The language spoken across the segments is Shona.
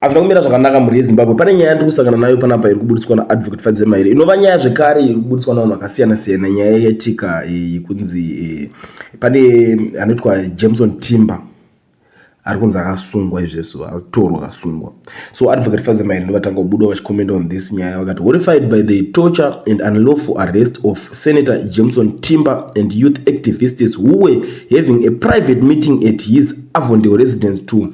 Hazvina kumira zvakanaka mhuri yeZimbabwe. Pane nyaya yandiri kusangana nayo panapa iri kubuditswa naAdvocate Fadze Maire inova nyaya zvekare iri kubuditswa navanhu vakasiyana siyana, nyaya yetika eh, yekunzi eh, pane anoitwa Jameson Timba ari kunzi akasungwa izvezvo atorwa akasungwa so advocate fazer mairi ndovatanga kubuda vachicomment on this nyaya vakati horrified by the torture and unlawful arrest of senator jameson timber and youth activists who were having a private meeting at his avondale residence to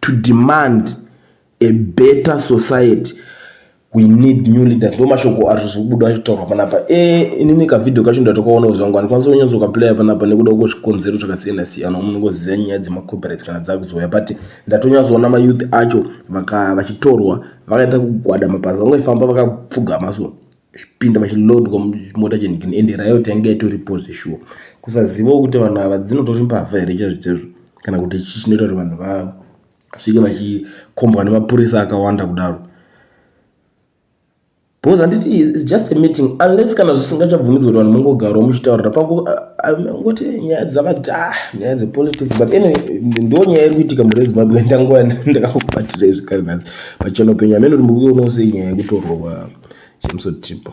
to demand a better society we need new leaders ndo mashoko azvo zviri kubuda achitaurwa panapa e eh, inini kavhidhio kacho ndatokaonawo zvangu handikwanisa kunyatso ukaplaya panapa nekuda kweko zvikonzero zvakasiyana siyana umu ndingoziva nyaya dzemacopyright kana dzakuzouya but ndatonyatsoona mayouth acho vaka vachitorwa vakaita kugwada mapazi vangoifamba vakapfugama so vachipinda vachilodwa mota chenhikini ende rayo tainge itoripo zveshuwa kusazivawo kuti vanhu ava dzinotori mbavha here chaizvo chaizvo kana kuti chii chinoita kuti vanhu vasvike vachikombwa nemapurisa akawanda kudaro because handiti its just a meeting unless kana zvisingachabvumidzwa kuti vanhu mongogarawo muchitaurira pangoti eh, nyaya dzavati ah nyaya dzepolitics but anyway ndo nyaya iri kuitika mure zimbabwe ndanguva ndakakubatirei zvekare nhasi pachena upenyu hameno kuti murikuionawo sei nyaya yekutorwa kwa James Otipo.